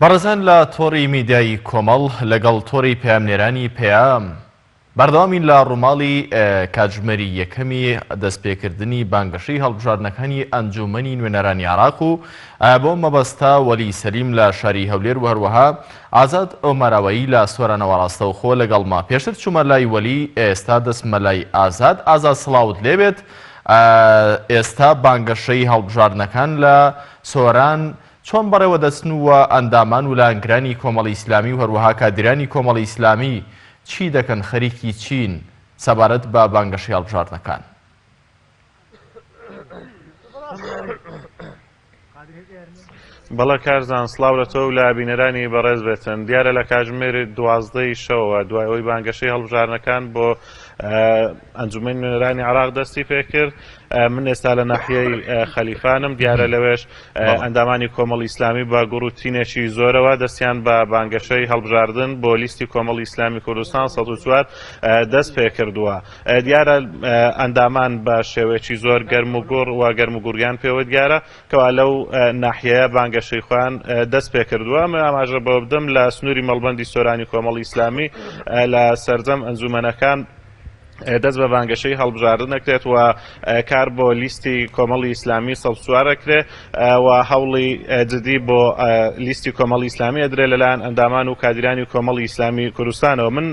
بەڕێزان لە تۆڕی میدیایی کۆمەڵ لەگەڵ تۆڕی پەیامنێرانی پەیام بەردەوامین لە ڕووماڵی کاتژمێری یەکەمی دەستپێکردنی بانگەشەی هەڵبژاردنەکانی ئەنجوومەنی نوێنەرانی عێراق و بەو مەبەستە وەلی سەلیم لە شاری هەولێر و هەروەها ئازاد ئۆمەراوەیی لە سۆرانەوە ڕاستەوخۆ لەگەڵمە پێشتر چوومە لای وەلی ئێستا دەچمە لای ئازاد ئازاد سڵاوت لێبێت ئێستا بانگەشەی هەڵبژاردنەکان لە سۆران چۆن بەڕێوە دەچن و ئەندامان و لایەنگرانی کۆمەڵی ئیسلامی و هەروەها کادیرانی کۆمەڵی ئیسلامی چی دەکەن خەریکی چین سەبارەت بە بانگەشەی هەڵبژاردنەکان؟ بەڵێ کارزان سڵاو لە تۆ و لە بینەرانی بەڕێز بێتن دیارە لە کاژمێر دوازدەی شەوە دوای ئەوی بانگەشەی هەڵبژارنەکان بۆ ئەنجومی نوێنەرانی عراق دەستی پێکرد من ئێستا لە ناحیەی خەلیفانم، دیارە لەوێش ئەندامانی کۆمەڵی ئیسلامی بە گوڕ و تینێکی زۆرەوە دەستیان بە بانگەشەی هەڵبژاردن بۆ لیستی کۆمەڵی ئیسلامی کوردستان سەد و چوار دەست پێ کردووە. دیارە ئەندامان بە شێوەیەکی زۆر گەرم و گوڕ و گەرم و گوڕیان پێوە دیارە کەوا لەو ناحیەیە بانگەشەی خۆیان دەست پێ کردووە. ئەمە ئاماژە بەوە بدەم لە سنووری مەڵبەندی سۆرانی کۆمەڵی ئیسلامی لە سەرجەم ئەنجوومەنەکان دەست بە بانگەشەی هەڵبژاردن ئەکرێت و کار بۆ لیستی کۆمەڵی ئیسلامی سەڵسوار ئەکرێ و هەوڵی جدی بۆ لیستی کۆمەڵی ئیسلامی ئەدرێ لەلایەن ئەندامان و کادیرانی کۆمەڵی ئیسلامی کوردستانەوە من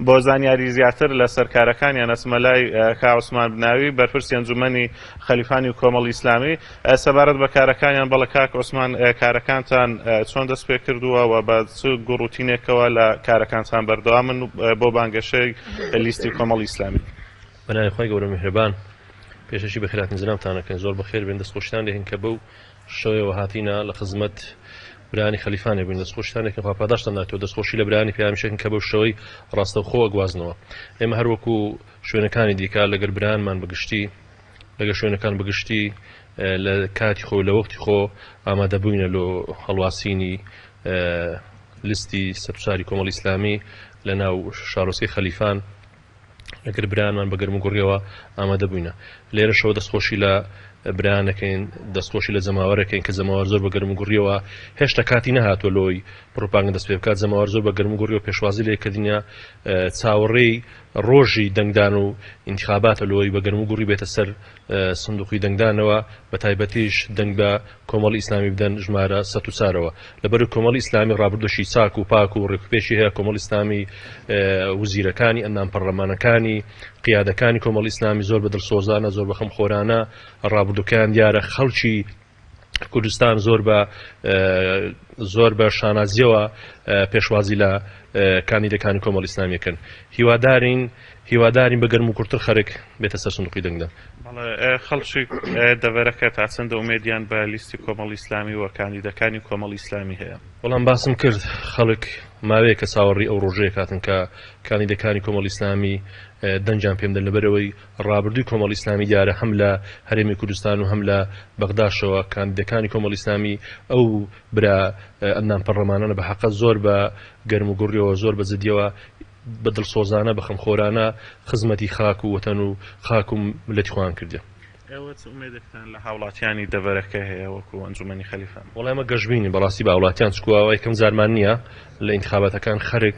بۆ زانیاری زیاتر لە سەرکارەکانیان ئەچمە لای کا عوسمان بناوی بەرپرسی ئەنجومەنی خەلیفانی کۆمەڵی ئیسلامی سەبارەت بە کارەکانیان، بەڵێ کاک عوسمان، کارەکانتان چۆن دەست پێ کردووە و بە چ گوڕوتینێکەوە لە کارەکانتان بەردەوامن بۆ بانگەشەی لیستی کۆمەڵی ئیسلامی؟ بە ناوی خوای گەورە میهرەبان، پێشەکی بە خێراترین زناوتان ئەکەین، زۆر بە خێر بێن، دەست خۆشیتان لێ ئەکەین کە بەو شێوەیەوە هاتینە لە خزمەت برایانی خەلیفانێ بووین، دەست خۆشیتان لێ ئەکەین خوا پاداشتان داتەوە، دەست خۆشی لە برایانی پەیامیش ئەکەین کە بەو شێوەی ڕاستەوخۆ ئەگوازنەوە ئێمە هەر وەکوو شوێنەکانی دیکە لەگەل برایانمان بە گشتی، لەگەشوێنەکان بەگشتی لە کاتی خۆی و لە وەختی خۆ ئامادەبووینە لۆ هەڵواسینی لیستی سەربچاری کۆمەڵی ئیسلامی لە ناو شارۆچکەی خەلیفان لەگەر برایانمان بە گەرموگوڕیەوە ئامادەبووینە لێرەشەوە دەستخۆشی لە برایان ئەکەین دەستخۆشی لە جەماوەر ئەکەین کە جەماوەر زۆر بە گەرموگوڕیەوە هێشتا کاتی نەهاتووە لۆی پڕوپاگەندە دەست پێ بکات جەماوەر زۆر بە گەرموگوڕیەوە پێشوازی لێکردنیە چاوەڕێی ڕۆژی دەنگدان و ئینتخاباتە لۆیی بە گەرمو گوڕی بێتە سەر سندوقی دەنگدانەوە بە تایبەتیش دەنگ بە کۆمەڵی ئیسلامی بدەن ژمارە سەد و چارەوە لەبەرو کۆمەڵی ئیسلامی ڕابردوشی چاک و پاک و ڕێکوپێکی هەیە کۆمەڵی ئیسلامی وزیرەکانی ئەندام پەڕلەمانەکانی قیادەکانی کۆمەڵی ئیسلامی زۆر بە دڵسۆزانە زۆر بە خەم خۆرانە ڕابردوکەیان دیارە خەڵکی کوردستان زۆر بە زۆر بە شانازیەوە پێشوازی لە کاندیدەکانی کۆمەڵی ئیسلامیەکەن هیوادارین هیوادارین بە گەرم و کورتتر خەرک بێتە سەر سندوقی دەنگدان خەڵکی دەڤەرەکە تا چەندە ئومێدیان بە لیستی کۆمەڵی ئیسلامی و کاندیدەکانی کۆمەڵی ئیسلامی هەیە بەڵام باسم کرد خەڵک ماوەیە کە چاوەڕی ئەو ڕۆژەیە کاتن کە کاندیدەکانی کۆمەڵی ئیسلامی دەنجان پێم دەن لەبەرەوەی ڕابردووی کۆمەڵی ئیسلامی دیارە هەم لە هەرێمی کوردستان و هەم لە بەغداشەوە کاندیدەکانی کۆمەڵی ئیسلامی ئەو برا ئەندام پەرڵەمانانە بە هەقە زۆر بە گەرم و گوڕیەوە زۆر بە جدیەوە بە دڵسۆزانە بە خەمخۆرانە خزمەتی خاک و وەتەن و خاک و مللەتی خۆیان کردە. ئێوە چ ئومێدێکتان لە هاوڵاتیانی دەڤەرەکە هەیە وەکو ئەنجومەنی خەلیفان؟ وەڵای ئەمە گەشبینین بەڕاستی بە هاوڵاتیان چکوە ئەوە یەکەم جارمان نیە لە ئینتخاباتەکان خەرک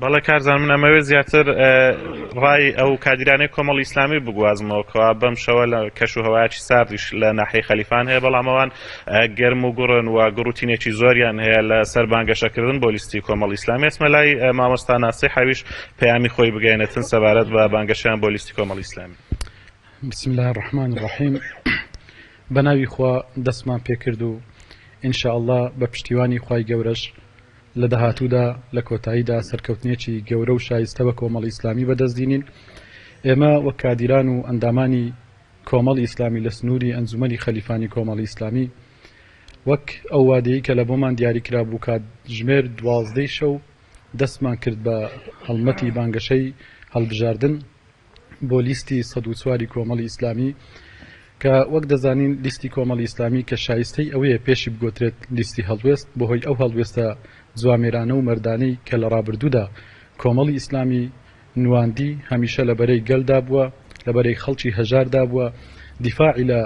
بەڵێ کارزان من ئەمەوێت زیاتر ڕای ئەو کادیرانەی کۆمەڵ ئیسلامی بگوازمەوە کەوا بەم شەوە لە کەش و هەوایکی ساردیش لە ناحی خەلیفان هەیە بەڵام ئەوان گەرم و گوڕن و گوڕوتینێکی زۆریان هەیە لە سەر بانگەشەکردن بۆ لیستی کۆمەڵ ئیسلامی ئەسمە لای مامۆستا ناسی حەویش پەیامی خۆی بگەێنێتن سەبارەت بە بانگەشیان بۆ لیستی کۆمەڵ ئیسلامی بسم الله الرحمن الرحیم بەناوی خوا دەستمان پێکرد و انشاء الله بە پشتیوانی خی گەورەش لە داهاتوودا لە کۆتاییدا سەرکەوتنێکی گەورە و شایستە بە کۆمەڵی ئیسلامی بەدەست دینین. ئێمە وەک کادیران و ئەندامانی کۆمەڵی ئیسلامی لە سنووری ئەنجومەنی خەلیفانی کۆمەڵی ئیسلامی وەک ئەو وادەیەی کە لە بۆمان دیاری کرا بوو کاتژمێر دوازدەی شەو دەستمان کرد بە هەڵمەتی بانگەشەی هەڵبژاردن. بۆ لیستی سەد و چوار ی کۆمەڵی ئیسلامی کە وەک دەزانین لیستی کۆمەڵی ئیسلامی کە شایستەی ئەوەیە پێشی بگۆترێت لیستی هەڵوێست بەهۆی ئەو هەڵوێستە جوامێرانە و مەردانەی کە لە ڕابردوودا کۆمەڵی ئیسلامی نواندی هەمیشە لە بەرەی گەلدا بووە لە بەرەی خەڵکی هەژاردا بووە دیفاعی لە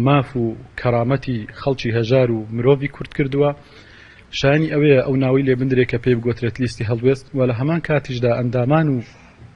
ماف و کەرامەتی خەڵکی هەژار و مرۆڤی کورد کردووە شایانی ئەوەیە ئەو ناوەی لێ بندرێ کە پێی بگۆترێت لیستی هەڵوێست و لە هەمان کاتیشدا ئەندامان و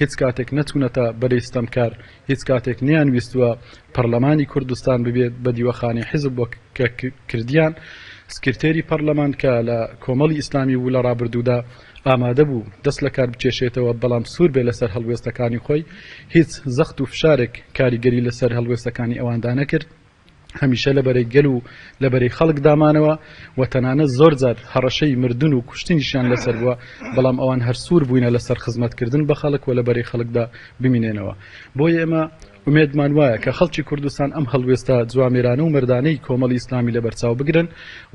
هیچ کاتێک نەچوونەتە بەرەی ستەمکار، هیچ کاتێک نەیانویستووە پەرلەمانی کوردستان ببێت بە دیوەخانی حیزب وەک کە کردیان. سکرتێری پەرلەمان کە لە کۆمەڵی ئیسلامی بوو لە ڕابردوودا ئامادە بوو دەست لە کار بکێشێتەوە بەڵام سوور بێت لەسەر هەڵوێستەکانی خۆی، هیچ زەخت و فشارێک کاریگەری لەسەر هەڵوێستەکانی ئەواندا نەکرد. هەمیشە لە بەرەی گەل و لە بەرەی خەڵک دامانەوە و تەنانەت زۆر جار هەڕەشەی مردن و کوشتنیشیان لەسەر بووە، بەڵام ئەوان هەر سوور بووینە لەسەر خزمەت کردن بە خەڵک و لە بەرەی خەڵکدا بمینێنەوە. بۆیە ئێمە ئومێدمان وایە کە خەڵکی کوردستان ئەم هەڵوێستە جوامێرانە و مەردانەی کۆمەڵی ئیسلامی لە بەرچاو بگرن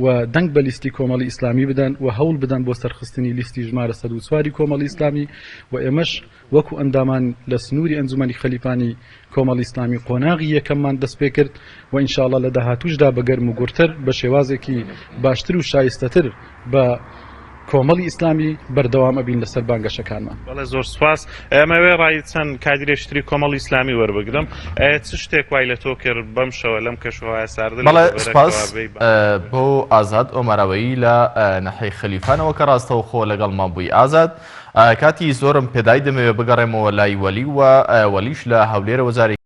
و دەنگ بە لیستی کۆمەڵی ئیسلامی بدەن و هەوڵ بدەن بۆ سەرخستنی لیستی ژمارە سەد و چوار ی کۆمەڵی ئیسلامی و ئێمەش وەکو ئەندامان لە سنوری ئەنجومەنی خەلیفانی کۆمەڵی ئیسلامی قۆناغی یەکەممان دەست پێکرد و ان شاءاللە لە داهاتووشدا بە گەرم و گوڕتر بە شێوازێکی باشتر و شایستەتر بە کۆمەڵی ئیسلامی بەردەوام ئەبین لەسەر بانگەشەکانمان. بەڵێ زۆر سوپاس. ئەمەوێ ڕای چەند کادیرێکی تری کۆمەڵی ئیسلامی وەربگرم. چ شتێک وای لە تۆ کرد بەم شەوە لەم کەش و هەوایە ساردە لە بەڵێ دەڤەرە سوپاس کەوە بێی بانگ بکەی؟ بۆ ئازاد ئۆماراوەیی لە ناحیەی خەلیفانەوە کە ڕاستەوخۆ لەگەڵمان بووی ئازاد کاتی زۆرم پێدای دەمەوێ بگەڕێمەوە لای وەلی و وەلیش لە هەولێرەوە جارێکی